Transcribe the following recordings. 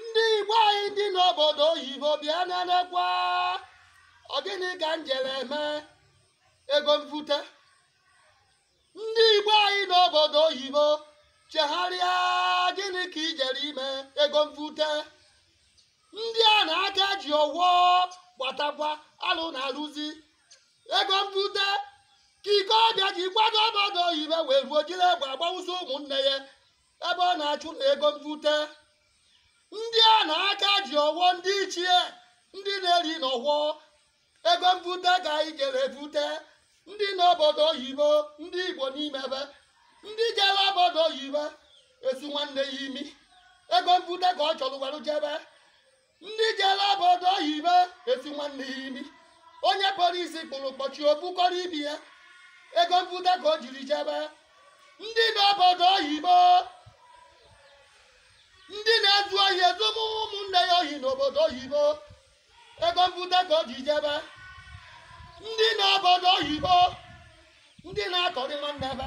ndị igbo anyị ndị n'obodo oyibo bịa nenekwa ọ gịnị ka m jere eme ego mvute ndị igbo anyị n'obodo oyibo chegharịa gịnị ka i jere ime ego mvute ndị ana aka ji ọwọ gbatakwa alụ na-arụzi ego mvute ka ike ọbịa ji gbado obodo oyibo wee ruo jiri egbe agbawụsị ụmụnne ya ebe ọ na-achụ na ego mvute ndị ana aka ji ọwọ ndị ichie ndị na-eri n'ọwọ ego mvute ka anyị jere evute ndị n'obodo oyibo ndị igbo n'ime ebe ndị jere obodo oyibo esi nwanne ya imi ego mvute ka ọ chọrọ were jebe ndị jere obodo oyibo esi nwanne ya imi onye polisi kpụrụ kpọchi o bukọrọ ibe ya ego mbute ka o jiri jebe ndị nọ obodo oyibo ndị na-ezu ohi ezu ụmụ ụmụnne ya ohi n'obodo oyibo ego mbute ka o ji jebe ndị nọ obodo oyibo ndị na-akọrị nwanne ebe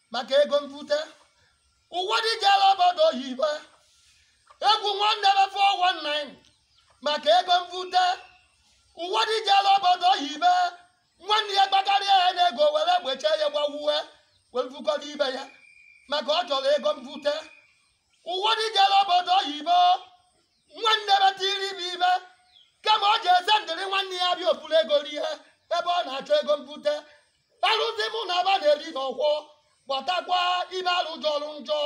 maka ego mvute ụwọdị jere obodo oyibo egwu nwanne be 419 maka ego mvute ụwọdị jere obodo oyibo nwanne ya gbakarịa ya n'ego were egbe chie ya gbawuwe were vukọrọ ibe ya maka ọ chọrọ ego mvute ụwọdị jere obodo oyibo nwanne be tiri ibe ibe kama ọ ji eze ndịrị nwanne ya bịa o vuru ego rie ebe ọ na-achọ ego mvute arụsị mụ na ba na-eri n'ọwọ gbatakwa ibe arụ jọrọ njọ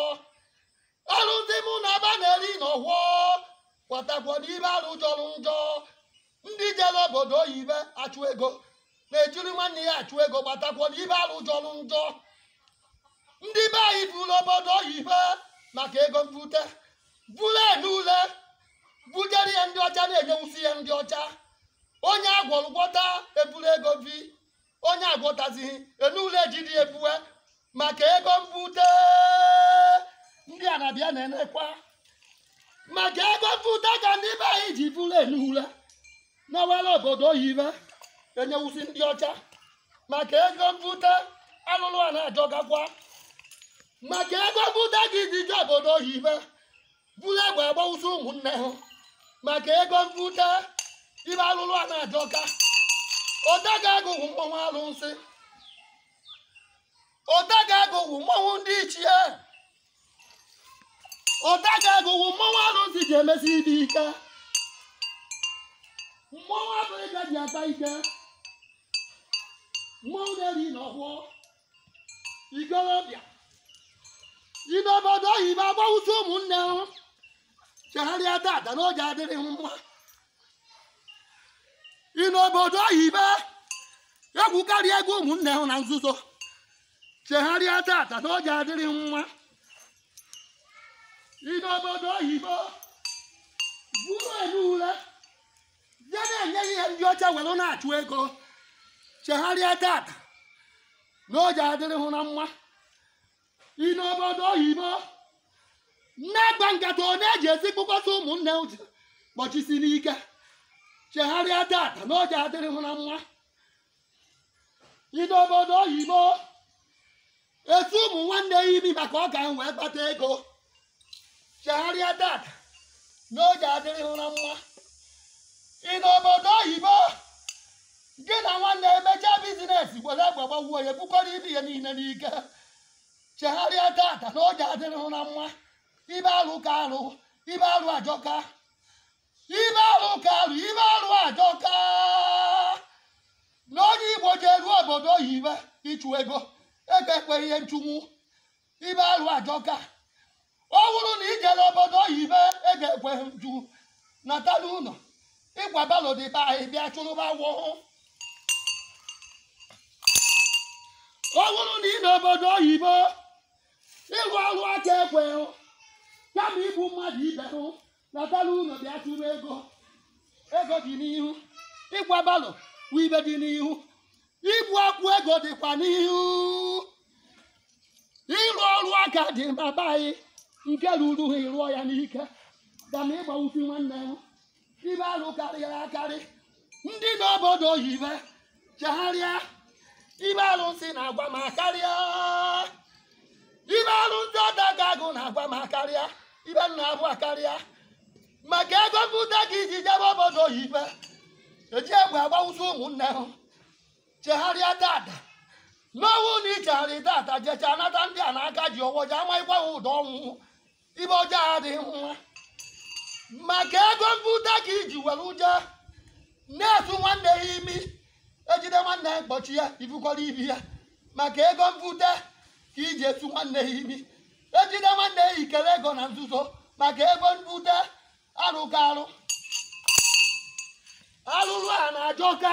arụsị mụ na ba na-eri n'ọwọ gbatakwa n'ibe arụ jọrọ njọ ndị jere obodo oyibo achụ ego na-ejiri nwanne ya achụ ego gbatakwa n'ibe arụ jọrọ njọ ndị be anyị buru obodo oyibo maka ego mbute buru enu ule bujere ya ndị ọcha na-enyewusi ya ndị ọcha onye agwọrọ gwọta eburu ego vi onye agwọtazighị enu ule ejide ebue maka ego mbute ndị ana bịa nenekwa maka ego mbute ka ndị be anyị ji buru enu ule na-awara obodo oyibo enyewusi ndị ọcha maka ego mbute alụlụ ana ajọkakwa maka ego mbute ka ndị ji obodo oyibo buru egbe agbawụsị ụmụnne ha maka ego mvute ibe alụlụ ana ajọka odaga agụghị mmanwụ alụsị odaga agụghị mmanwụ ndị ichie odaga agụghị mmanwụ alụsị ji emesi ibe ike mmanwụ Afrịka ji ata ike mmanwụ na-eri n'ọwọ ikorobịa ị nọ obodo oyibo agbawusi ụmụnne hụ chegharịa tata na ọ ja-adịrị mma ị nọ obodo oyibo egwukarị ego ụmụnne hụ na nzuzo chegharịa tata na ọ ja-adịrị mma ị nọ obodo oyibo bụrụ elu ule bịa na-enye ihe ndị ọcha were na-achụ ego chegharịa tata na ọ ja-adịrị hụ na mma ị nọ obodo oyibo na-agba nkata ọ na-eji esi kpọkọta ụmụnne hụ je kpọchisi n'ike chegharịa tata na ọ ja-adịrị hụ na mma ị nọ obodo oyibo esu ụmụ nwanne ya imi maka ọ ka m wee kpata ego chegharịa tata na ọ ja-adịrị hụ na mma ị nọ obodo oyibo gị na nwanne emechaa bizinesi were egbe gbawuo ya bukọrọ ibi ya niile n'ike chegharịa tata na ọ ja-adịrị hụ na mma ibe alụ ka alụ ibe alụ ajọka ibe alụ ka alụ ibe alụ ajọka na onye igbo ji eru obodo oyibo ịchụ ego ego ekwe ye nchụnwu ibe alụ ajọka ọ bụrụ na i jere obodo oyibo ego ekwe hụ nchụ nata n'ụlọ ịkwa balo dị be anyị bịa chụrụba awụhụ ọ bụrụ na ị nọ obodo oyibo ịrụ ọrụ aka ekwe hụ kama igbu mmadụ ibe hụ nata n'ụlọ bịa chụrụ ego ego dị n'ihu ịkwa balo bụ ibe dị n'ihu igbu akwụ ego dịkwa n'ihu ịrụ ọrụ aka dị ba be anyị nke ruru hụ ị rụọ ya n'ike kama ịgbawusi nwanne m ibe alụ karịrị akarị ndị nọ obodo oyibo chegharịa ibe alụsị na-agwa m akarịa ibe alụsị ọdaga agụ na-agwa m akarịa ibe m na-avụ akarịa maka ego mbute ka i ji jebe obodo oyibo eji egbe agbawusi ụmụnne ha chegharịa tata na ọ wụ na ichegharị tata jecha nata ndị ana aka ji ọwọ ji amaghịkwa ha ụdọ ọnwụ ibe ọjọọ adịghị mma maka ego mbute ka i ji were ụjọ na-esu nwanne ya imi ejide nwanne ya kpọchi ya i bukọrọ ibi ya maka ego mbute ka i ji esu nwanne ya imi ejide nwanne ya i kere ego na nzuzo maka ego mbute arụ ka arụ arụrụana ajọka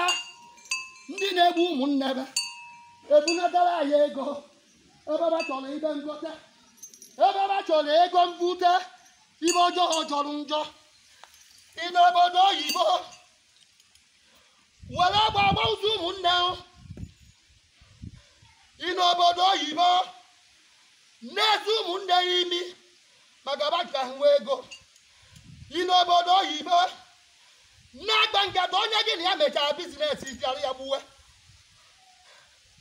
ndị na-egbu ụmụnne be ebunatara anyị ego ebe ba chọrọ ibe ngote ebe ba chọrọ ego mbute ibe ọjọọ jọrọ njọ ị nọ obodo oyibo were egbe agba ụzọ ụmụnne o. ị nọ obodo oyibo na-esi ụmụnne ya imi maka ba ka ha nwee ego ị nọ obodo oyibo na-akpa nkata onye gị na ya mechara bizinesi bịara ya gbuwe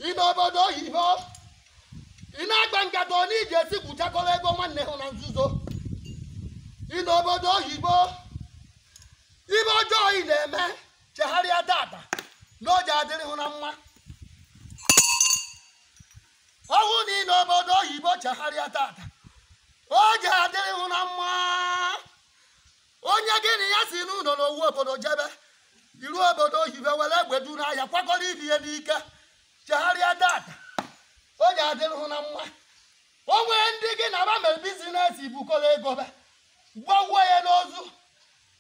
ị nọ obodo oyibo ị na-akpa nkata onye iji esi gwuchakọrọ ego nwanne hụ na nzuzo ị nọ obodo oyibo ibe ọjọọ ị na-eme chegharịa tata na o ji adịrị hụ na mma ọ wụ na ị nọ obodo oyibo chegharịa tata o ji adịrị hụ na mma onye gị na ya si n'ụlọ n'owu obodo jebe i ruo obodo oyibo were egbe du n'ahịa kwakọrọ ibe ya n'ike chegharịa tata o ji adịrị hụ na mma o nwere ndị gị na ba mere bizinesi bukọrọ ego be gbawuo ya n'ozu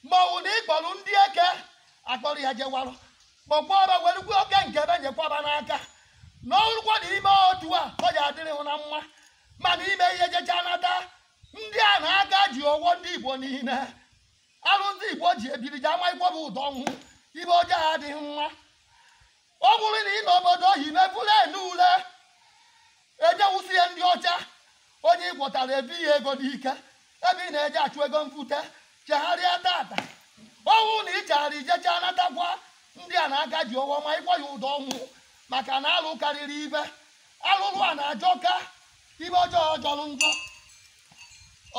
ma ọ bụ na ị kpọrọ ndị eke akpọrọ ya jewarụ kpọkwa ọba werukwa oke nke be nyekwa ba n'aka na ọrụkwa na i mee otu a o ji adịrị hụ na mma mana i mee i jecha nata ndị ana aka ji ọwọ ndị igbo niile alụ ndị igbo ji ebiri ji ama ịkwụba ụdọ ọnwụ ibe ọjọọ adịghị mma ọ bụrụ na ị nọ obodo oyibo bụrụ ene ule ejewusie ndị ọcha onye ị gwọtara ebi ya ego n'ike ebe ị na-eje achụ ego mbute chegharịa tata ọ wụ na ị chegharị i jecha natakwa ndị ana aka ji ọwọ ma ịkwụ ya ụdọ ọnwụ maka na alụ karịrị ibe arụrụ ana ajọka ibe ọjọọ jọrọ njọ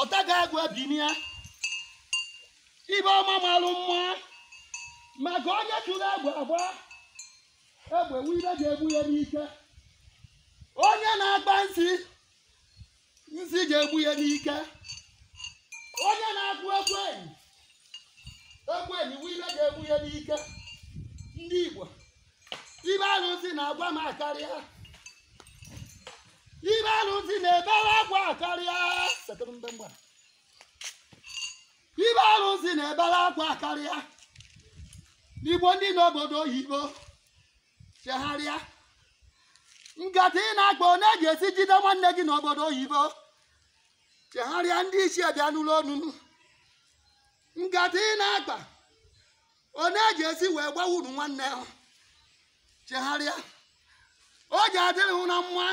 ọtaga agụ ebinia ibe ọma malụ mma maka onye tụrụ egbe agba egbe wụ ibe ga-egbu ya n'ike onye na-akpa nsi nsi ga-egbu ya n'ike onye na-akụ ekwenyi ekwenyi wụ ibe ga-egbu ya n'ike ndị Igbo ibe arụsị na-agwa m akarịa ibe arụsị na-ebere akwa akarịa ibe arụsị na-ebere akwa akarịa igbo ndị nọ obodo oyibo chegharịa nkata ị na-akpa onye ji esi jide nwanne gị n'obodo oyibo chegharịa ndị isi bịa n'ụlọ onunu nkata ị na-akpa onye ji esi wee gbawuru nwanne hụ chegharịa o ji adịrị hụ na mma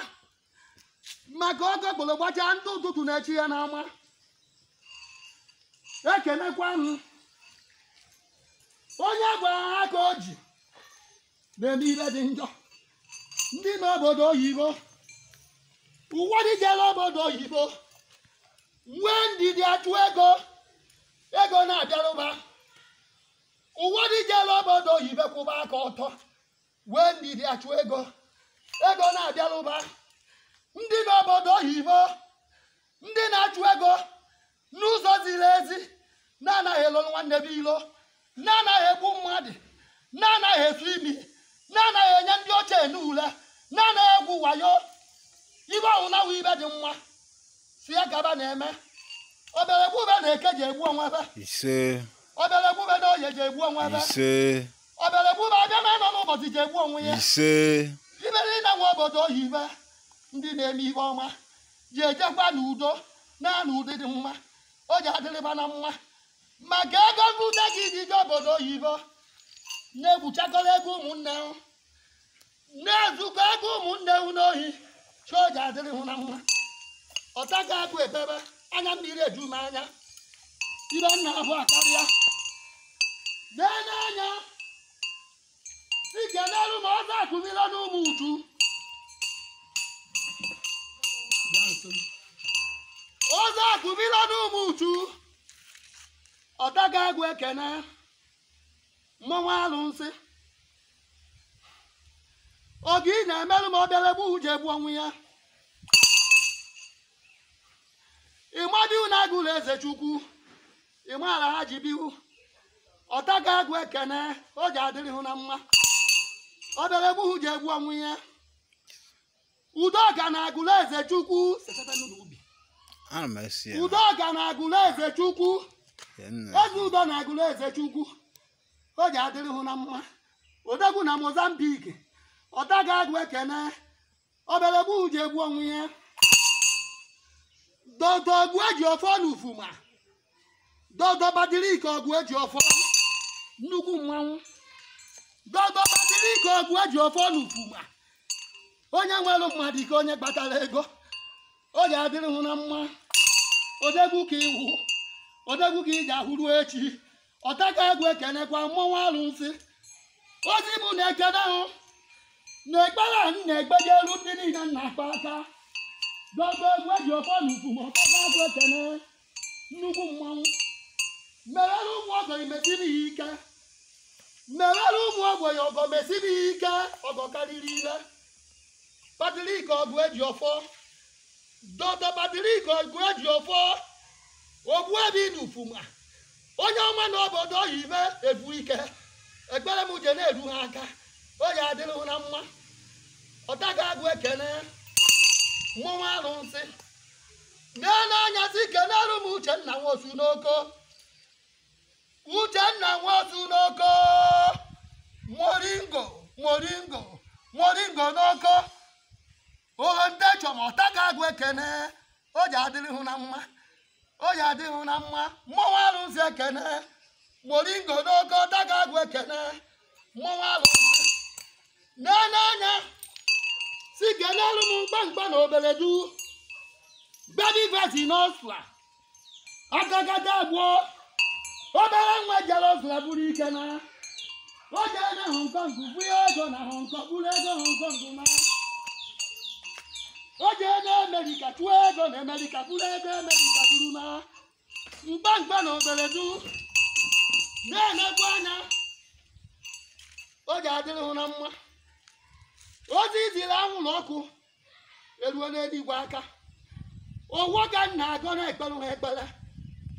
maka okokporo gbachaa ndị ụtụtụ na-eche ya n'ama ekenekwa m onye gwara ha ka o ji na-eme ihe dị njọ ndị nọ obodo oyibo ụfọdụ jere obodo oyibo nwee ndidi achụ ego ego na-abịarụ ba ụfọdụ jere obodo oyibo kwụba aka ọtọ wee ndidi achụ ego ego na-abịarụ ba ndị nọ obodo oyibo ndị na-achụ ego n'ụzọ ziri ezi na-anaghị elolu nwanne be ilo na-anaghị egbu mmadụ na-anaghị esu imi na-anaghị enye ndị ọcha enu ule na-anaghị egwu wayo ibe ọhụrụ na awụ ibe dị mma si ya gaba na-eme ọ bịara egbu be na eke ji egbu onwe be ise ọ bịara egbu be na oye ji egbu onwe be ise ọ bịara egbu be abịa na anọ n'ụbọchị ji egbu onwe ya ise ibe niile nọ obodo oyibo ndị na-eme ihe ọma ji ejekwa n'udo na n'ụdị dị mma o ji adịrị ba na mma maka ego mbute gị ji je obodo oyibo na-egbuchakọrọ ego ụmụnne hụ na-ezukọ ego ụmụnne hụ n'ohi chi o ji adịrị hụ na mma ọtaga agụ ebebe anya mmiri eju m anya ibe nna ahụ akarịa lee n'anya dike n'elu ma ọzọ akụzila n'umuchu ọzọ akụzila n'umuchu ọtaga agụ ekene mmanwụ alụsị oge ị na-emerụ ma ọ bịara egbu hụ ji egbu onwe ya ịmadị na agụlụ eze chukwu ị maara ha ji biwu ọtaga agụ ekene o ji adịrị hụ na mma ọ bịara egbu hụ ji egbu onwe ya udo ga na agụlụ eze chukwu setebe n'ụlọ ubi ana m esi ya udo ga na agụlụ eze chukwu ya nna eze udo na agụlụ eze chukwu o ji adịrị hụ na mma odegwu na mozambik ọtaga agụ ekene ọ bịara egbu hụ ji egbu onwe ya dodo ọgụ eji ọfọ na ufuma dodo patrik ọgụ eji ọfọ nnukwu mmanwụ dodo patrik ọgụ eji ọfọ na ufuma onye nwere mmadụ ka onye kpatara ego o ji adịrị hụ na mma odegwu ka ị wụ odegwu ka ị ji awụ ruo echi ọtaga agụ ekenekwa mmọnwụ alụsị ozi bụ na ekene hụ na ekpere a na-ekpe ji eru ndị niile nna akpa aka dodo ọgụ eji ọfọ na ufuma ọtaga agụ ekene nnukwu mmanwụ merere ụmụ ọgọ mesiri ya ike merere ụmụ ogbenye ọgọ mesiri ya ike ọgọ karịrị ile patrik ọgụ eji ọfọ Dr. Patrick Oguejiofor Ogbuevi n'Ufuma onye ọma na obodo oyibe ebu ike ekpere m je na-eru ha aka ọ ya adịrị hụ na mma ọtaga agụ ekene mmọnwụ arụsị na-ele anya si kenere m Uchenna Nwosu n'Oko Uchenna Nwosu n'Oko moringo moringo moringo n'Oko ohe ndị chọ ma ọtaga agụ ekene o ji adịrị hụ na mma o ji adịrị hụ na mma mmọnwụ arụsị ekene moringo n'Oko ọtaga agụ ekene mmọnwụ arụsị na-ele anya si kenelu m mkpamkpa na Obeledu baby face n'ọsla agagada abụọ obere nwa jere ọgụla buru ike na o jere na hong kong buru ego na hong kong buru ego hong kong na o jere na amerịka chụọ ego na amerịka buru ego amerịka bụrụ na mkpamkpa na Obeledu na-enekwa anya o ji adịrị hụ na mma ozi e ziri anwụrụ ọkụ eruo n'eluigwe aka ọfọ ka m na-agọ na-ekpere ha ekpere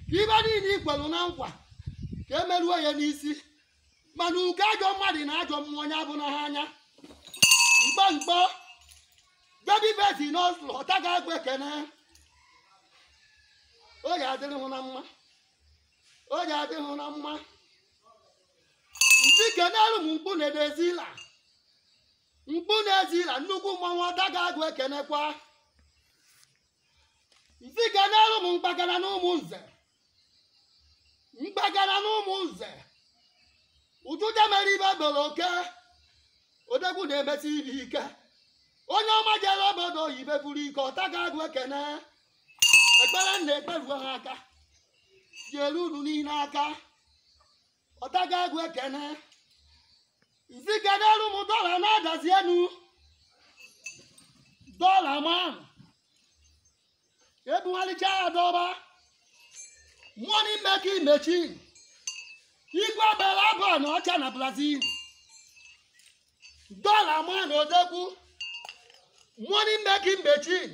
ka ive niile i kwelu na nkwa ka e meruo ya n'isi mana ugo ajọ mmadụ na ajọ mmụọ onye avụna ha anya mkpamkpa baby face n'ọsụlụ ọtaga agụ ekene o ji adịrị hụ na mma o ji adịrị hụ na mma m sị kenelu m mkpu ndị Ezila mkpu n'Ezila nnukwu mmanwụ ọtaga agụ ekenekwa m sị kenelu m mkpagara na Ụmụnze mkpagara na Ụmụnze ụtụte mere ibe gbere oke odegwu na-emesi ibe ike onye ọma jere obodo oyibe buru ike ọtaga agụ ekene ekpere m na-ekpe ruo ha aka je eru unu niile aka ọtaga agụ ekene m sị kenelu m dollar n'Adazi Enu dollar man ebugharịcha ya dọba money making machine igwe bela abụ na ọcha na brazil dollar man odegwu money making machine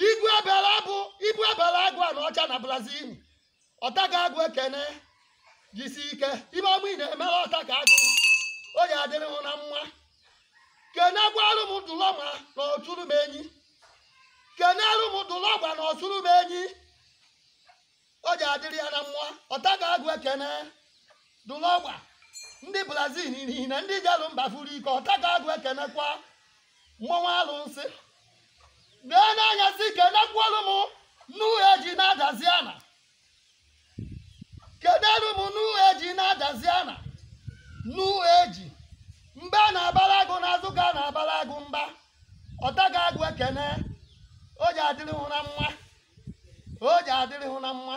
igwe bela abụ igwe bela agụ na ọcha na brazil ọtaga agụ ekene jisi ike ive ọma ị na-eme ọtaga agụ o ji adịrị hụ na mma kenekwarụ m dụlọma na Ọsụrụmenyi kenerụ m dụlọgba na Ọsụrụmenyi o ji adịrị ya na mma ọtaga agụ ekene dụlọgba ndị brazil niile ndị jelụ mba vuru ike ọtaga agụ ekenekwa mmọnwụ alụnsị nee n'anya si kenekwuolu m n'uhe eji na Adazi ana kenelu m n'uhe eji na Adazi ana n'uhe eji mba a na-abara agụ n'azụ ka a na-abara agụ mba ọtaga agụ ekene o ji adịrị hụ na mma o ji adịrị hụ na mma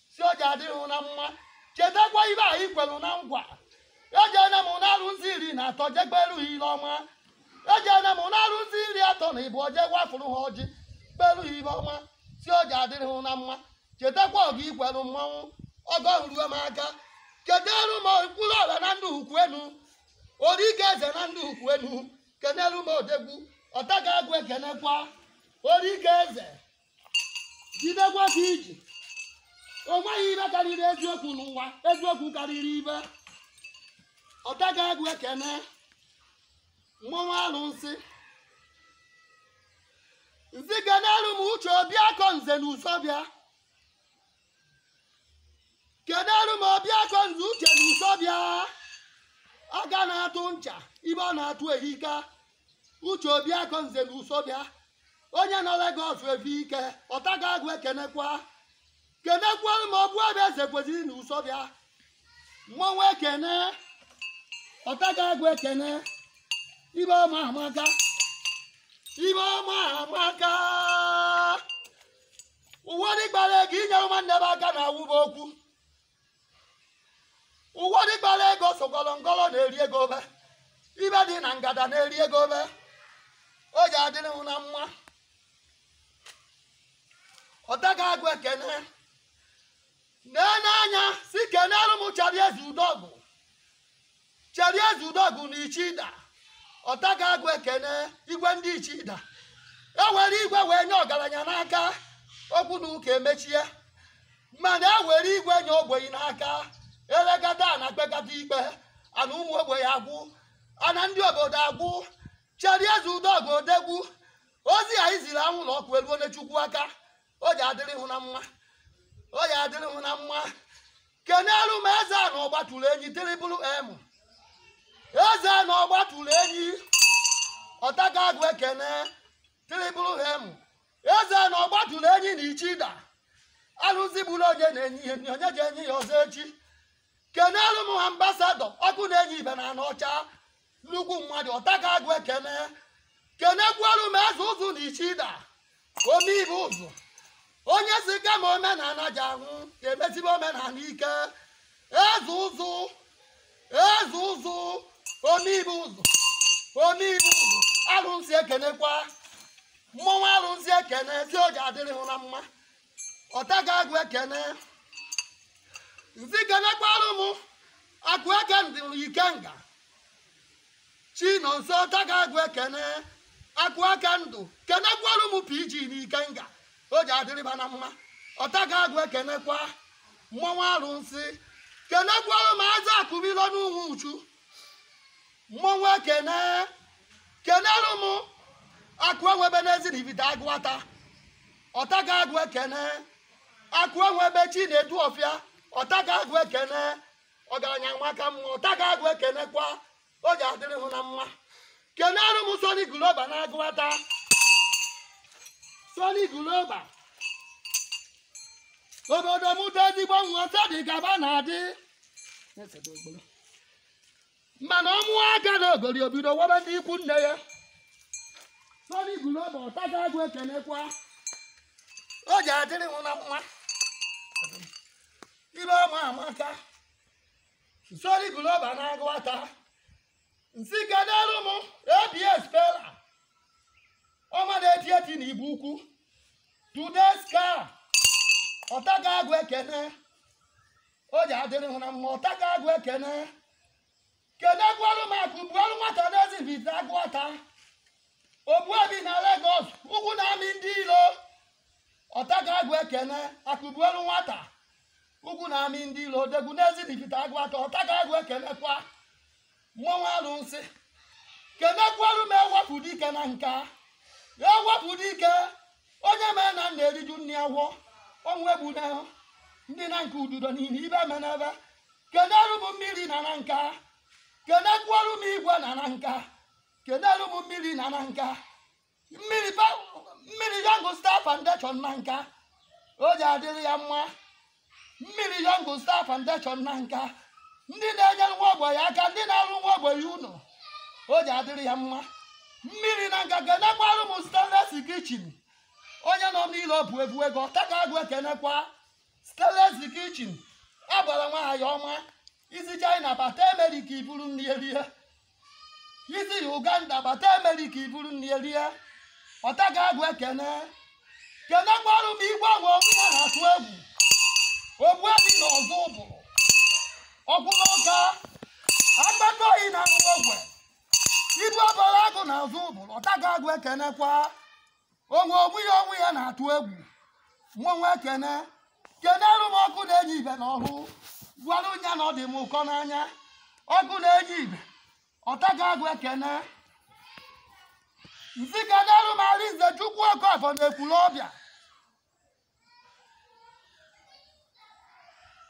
si o ji adịrị hụ na mma chetakwa ive anyị kwelu na ngwa ejena m na-arụzi iri na atọ jegberu ha ive ọma ejena m na-arụzi iri atọ na ịbụ oje gwafụrụ ha ọjị beru ha ive ọma si o ji adịrị hụ na mma chetakwa ọga ikwelu mmanwụ ọgọ ruo m aka keneru m mkpụrụ ọla na Ndiukwuenu orike eze na Ndiukwuenu keneru m odegwu ọtaga agụ ekenekwa orike eze jidekwa ka i ji o nweghị ive karịrị eziokwu n'ụwa eziokwu karịrị ive ọtaga agụ ekene mmọnwụ alụnsị nzi keneru m Uche Obiakọ nze na Isuofia keneru m Obiakọ nze Uche na Isuofia aka na-atụ ncha ive ọ na-atụ ehika Uche Obiakọ nze na Isuofia onye nọ Lagos efe ike ọtaga agụ ekenekwa kenekwara m Obuebe eze kwesịrị na Isuofia mmọnwụ ekene ọtaga agụ ekene ive ọma amaka ive ọma amaka ụwa dịgbara ego inyere nwanne m aka na awụba okwu ụwa dịgbara ego sokọrọ ngọrọ na-eri ego obe ive dị na ngada na-eri ego obe o ji adịrị hụ na mma ọtaga agụ ekene nee n'anya si keneru m Charlie Ezeudogu Charlie Ezeudogu na Ichida ọtaga agụ ekene igwe ndị Ichida e were igwe wee nye ọgaranya n'aka okwu na ụka emechie mana e were igwe nye ogbenye n'aka elekata na kpekata ikpe ana ụmụ ogbenye agwụ ana ndị obodo agwụ Charlie Ezeudogu odegwu ozi anyị ziri anwụlọ ọkụ eruone Chukwu aka o ji adịrị hụ na mma o ji adịrị hụ na mma kenelu m Ezeana ọgbatụrụ enyi Triple M Ezeana ọgbatụrụ enyi ọtaga agụ ekene Triple M Ezeana ọgbatụrụ enyi na Ichida alụsị gburu onye na-enye ya nri, onye ji enye ya ọzọ echi kenelu m ambassador ọkụ na-enye ive na Anaọcha nnukwu mmadụ ọtaka agụ ekene kenekwaru m eze ụzụ na ichida omeibe ụzụ onye si kama omenala ji anwụ ga-emezibe omenala ike eze ụzụ eze ụzụ omeibe ụzụ omeibe ụzụ arụsị ekenekwa mmọnwụ arụsị ekene si o ji adịrị hụ na mma ọtaga agụ ekene nzi kenekwarụ m akụ eke ndụ Ikenga Chinonso ọtaga agụ ekene akụ eke ndụ kenekwarụ m pg na ikenga o ji adịrịba na mma ọtaga agụ ekenekwa mmọnwụ arụnsị kenekwarụ m aza akụmilo n'Ụmụuchu mmọnwụ ekene kenerụ m akụ enwebe n'Ezinifite Agụata ọtaga agụ ekene akụ enwebe Chinedu Ọfịa ọtaga agụ ekene ọgaranya nwa ka mma ọtaga agụ ekenekwa o ji adịrị hụ na mma kenearụ m Soni Global na Agụata Soni Global obodo mụta ezigbo nwa dị gaba na-adị mana ọ mụọ akalogori o bido webe ndị ikwu nne ya Soni Global ọtaga agụ ekenekwa o ji adịrị hụ na mma ibe ọma amaka Soni Global na Agụata nsi kenerụ m abs pela ọma na-eti eti na Igbo Ukwu today's car ọtaga agụ ekene o ji adịrị hụ na mma ọtaga agụ ekene kenekwarụ m akụ buoru nwata n'Ezinifite Agụata ogbuefi na Lagos ugwu na-amị ndị ilo ọtaga agụ ekene akụ buoru nwata ugwu na-amị ndị ilo odegwu n'Ezinifite Agụata ọtaga agụ ekenekwa mmọnwụ alụsị kenekwaru m ewepụ dike Nanka ewepụ dike onye mee na nna eriju nni agwọ ọnwụ egbu na ndị Nanka ududo niile ibe menebe keneru m mmiri na Nanka kenekwaru m igwe na Nanka keneru m mmiri na Nanka mmiri Young Star Foundation Nanka o ji adịrị ya mma mmiri Young Star Foundation Nanka ndị na-enyere nwa ogbenye aka ndị na-arụ nwa ogbenye ụlọ o ji adịrị ya mma mmiri Nanka kenekwarụ m stainless kitchen onye nọ n'ile ọ bụ ebu ego ọtaga agụ ekenekwa stainless kitchen agbara nwaanyị ọma i si China bata America i buru nri erie i si uganda bata amerịka i buru nri rie ọtakagụ ekene kenekwarụ m igwe agwa onwe ya na-atụ egwu ogbuefi na ọzụbụlụ okwuru ọka akpata oyi na ahụ ogwe ibu ọbara agụ na ọzụbụlụ ọtakagụ ekenekwa onwe onwe ya onwe ya na-atụ egwu mmanwụ ekene kenere m ọkụ na-enye ife na ọhụ gwarụ nya na ọ dị m ụkọ n'anya ọkụ na-enye ife ọtakagụ ekene m sị kenere m arinzechukwu okafọ na ekwulọbịa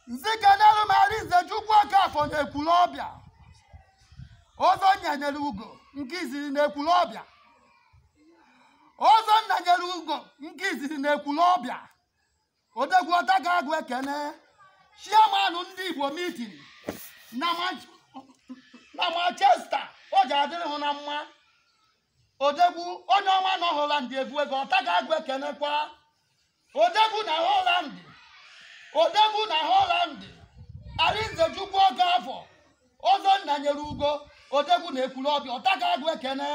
m sị kenelu m arinzechukwu okafọ na ekwulọbịa ọzọ nna nyere ugo nke izizi na ekwulọbịa ọzọ nna nyere ugo nke izizi na ekwulọbịa odegwu ọtakagụ ekene chairman ndị igbo meeting na manchester ọ ji adịrị hụ na mma odegwu onye ọma nọ holland ebu ego ọtakagụ ekenekwa odegwu na holland odegwu na holland arinzechukwu okafọ ọzọ nna nyere ugo odegwu na ekwulọbịa ọtakagụ ekene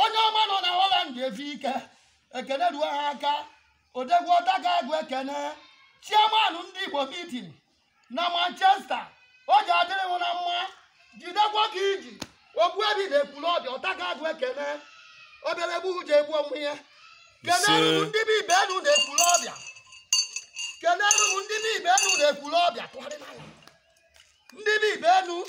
onye ọma nọ na holland efi ike ekene ruo ha aka odegwu ọtakagụ ekene chairman ndị igbo meeting na manchester o ji adịrị hụ na mma jidekwa ka i ji ogbuefi na ekwulọbịa ọtakagụ ekene ọbịara egbu ji egbu onwe ya kenere m ndị bụ livinus na ekwulọbịa kenere m ndị bụ livinus na ekwulọbịa tụgharịla ya ndị bụ livinus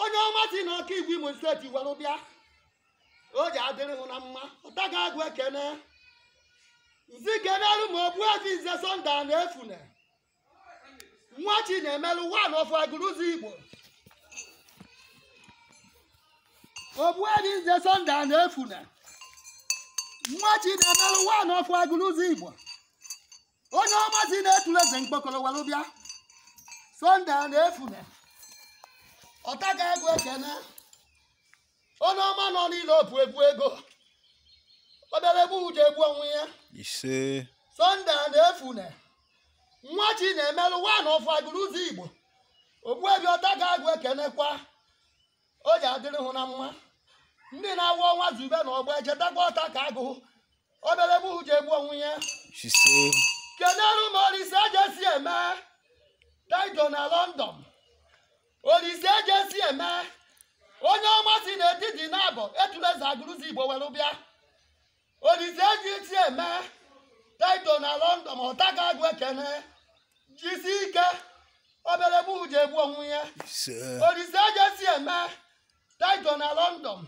onye ọma si na okigwe imo state were bịa o ji adịrị hụ na mma ọtakagụ ekene m sị kenelu m ogbuefi nze sunday anaefune nwachinemelu one of agụlụezigbo ogbu ezi nze sọnde a na-efune nwa chi na-emelụ wan of agụrụzi igbo onye ọma si na-etule eze mkpokoro were bịa sunday anaefune ọtakagụ ekene onye ọma nọ na europe ebu ego ọbịara egbu ji egbu onwe ya ise sunday anaefune nwachinemeru one of agụlụezigbo ogbuefi ọtakagụ ekenekwa o ji adịrị hụ na mma ndị na-awụ ọnwa zube na ọgba echetakwa ọtakagụ obere bụ uche egbu onwe ya ise kenere m olise ejesieme tiger na london olise ejesieme onye ọma si n'etiti nabọ etuleze agụlụzigbo were bịa olise ejesieme tiger na london ọtaga agụ ekene jisi ike obere bụ uche egbu onwe ya ise olise ejesieme tiger na london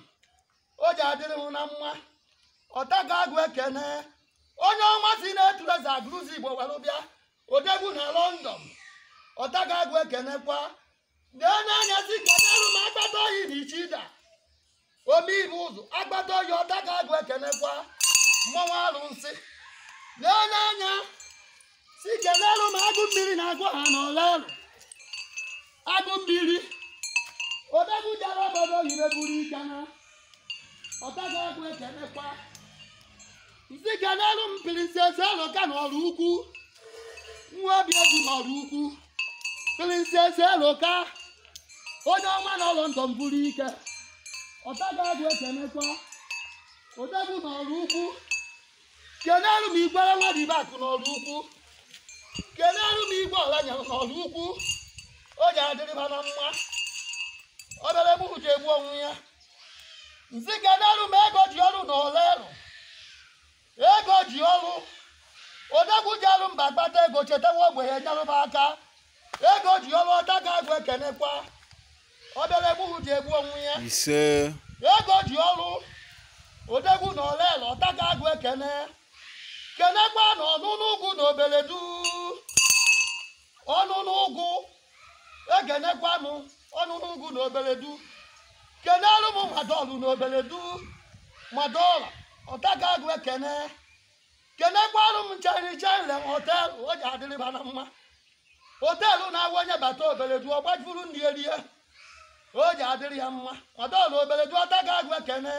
o ji adịrị hụ na mma ọtaga agụ ekene onye ọma si n'etuleze agụlụzigbo were bịa odegwu na london ọtaga agụ ekenekwa na-enye anya si kenerụ m agbata oyi na ichida omeibe ụzọ agbata oyi ọtaga agụ ekenekwa mmanwụ arụsị na-enye anya si kenere m agụ mmiri na agụ ha n'olerụ agụ mmiri odegwu jara obodo oyibo buru ike na ọtaga agụ ekenekwa nsi kenere m princess eloka na ọraukwu nwa obiezi na ọraukwu princess eloka onye ọma na london buru ike ọtaga agụ ekenekwa odegwu na ọraukwu kenelu m igwe ọla dị ibe akụ n'ọraukwu kenelu m igwe ọlanyere n'ọraukwu o ji adịrị ha na mma obere egbu ji egbu onwe ya nsi kenelu m ego ji ọrụ na olerụ ego ji ọrụ odegwu jeru mba kpata ego chetawa ogbenye nyeruba aka ego ji ọrụ ọtaga agụ ekenekwa obere egbuhu ji egbu onwe ya ise ego ji ọrụ odegwu na olele ọtaga agụ ekene kenekwa na ọnụnụ ugwu na obeledu ọnụnụ ugwu ekenekwanụ ọnụnụ ugwu na obeledu kenelu m madọlụ na obeledu madọla ọtaga agụ ekene kenekwarụ m ncheri chenle hotel o ji adịrịba na mma hotel na-awụ onye bata obeledu ọ gbajuru nri erie o ji adịrị ya mma madọlụ obeledu ọtaga agụ ekene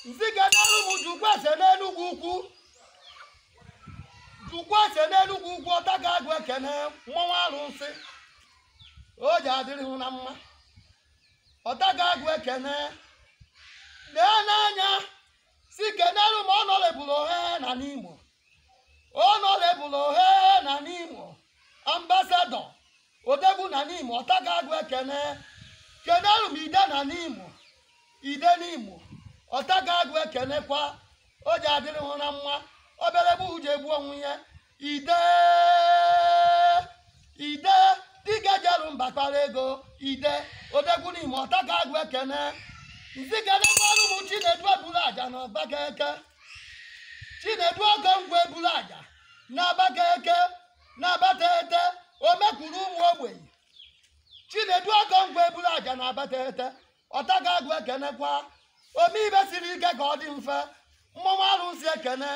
nsi kenelu m jukwaese n'enugwu ukwu jukwaese n'enugwu ukwu ọtaga agụ ekene mmọnwụ arụsị o ji adịrị hụ na mma ọtaga agụ ekene lee n'anya si kenere m honourable ohe na nimo honourable ohe na nimo ambassador odegwu na nimo ọtaga agụ ekene kenere m ide na nimo ide nimo ọtaga agụ ekenekwa o ji adịrị hụ na mma obere bụ uju egbu onwe ya ide ide dike jelu mba kpara ego ide odegwu n'ime ọta ka agụ ekene nsị kenekwara m chinedu ebulu aja na abatete chinedu okongwu ebulu aja na abatete na abatete omekwuru ụmụ ogbenye chinedu okongwu ebulu aja na abatete ọta ka agụ ekenekwa ome ibe siri ike ka ọ dị mfe mmọnwụ arụsị ekene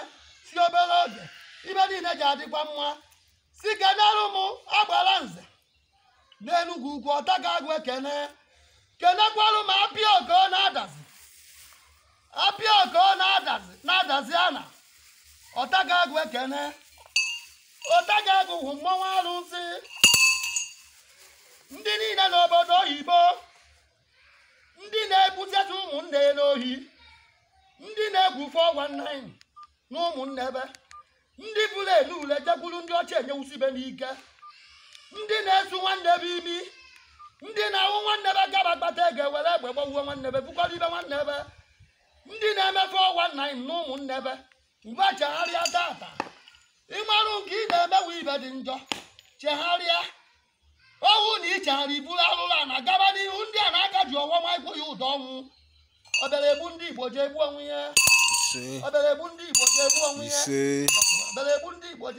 si obere oge ibe niile ji adịkwa mma si kenere m agbara nze n'enugwu ukwu ọta ka agụ ekene kenekwara m apịa oko na adazi apịa oko na adazi na adazi ana ọta ka agụ ekene ọta ka agụ hụ mmanwụ arụsị ndị niile n'obodo oyibo ndị na-egbuteta ụmụnne n'ohi ndị na-egwu 419 na ụmụnne ebe ndị bụrụ elu ule jekwuru ndị ọcha enyewusi ibe n'ike ndị na-esu nwanne ebe imi ndị na-ahụ nwanne ebe gaba kpata ego ewere egbe gbawuo nwanne ebe bukwara ibe nwanne ebe ndị na-eme 419 na ụmụnne ebe mgbe chegharịa tata ị marụ nke ị na-emewe ibe dị njọ chegharịa ọ wụ na ichegharị i buru alụlụ a na-agaba n'ihu ndị a na-aka ji ọwa ma ịkwụ ya ụdọ ọnwụ obere egbu ndị igbo ji egbu onwe ya obere egbu ndị igbo ji egbu onwe ya obere egbu ndị igbo ji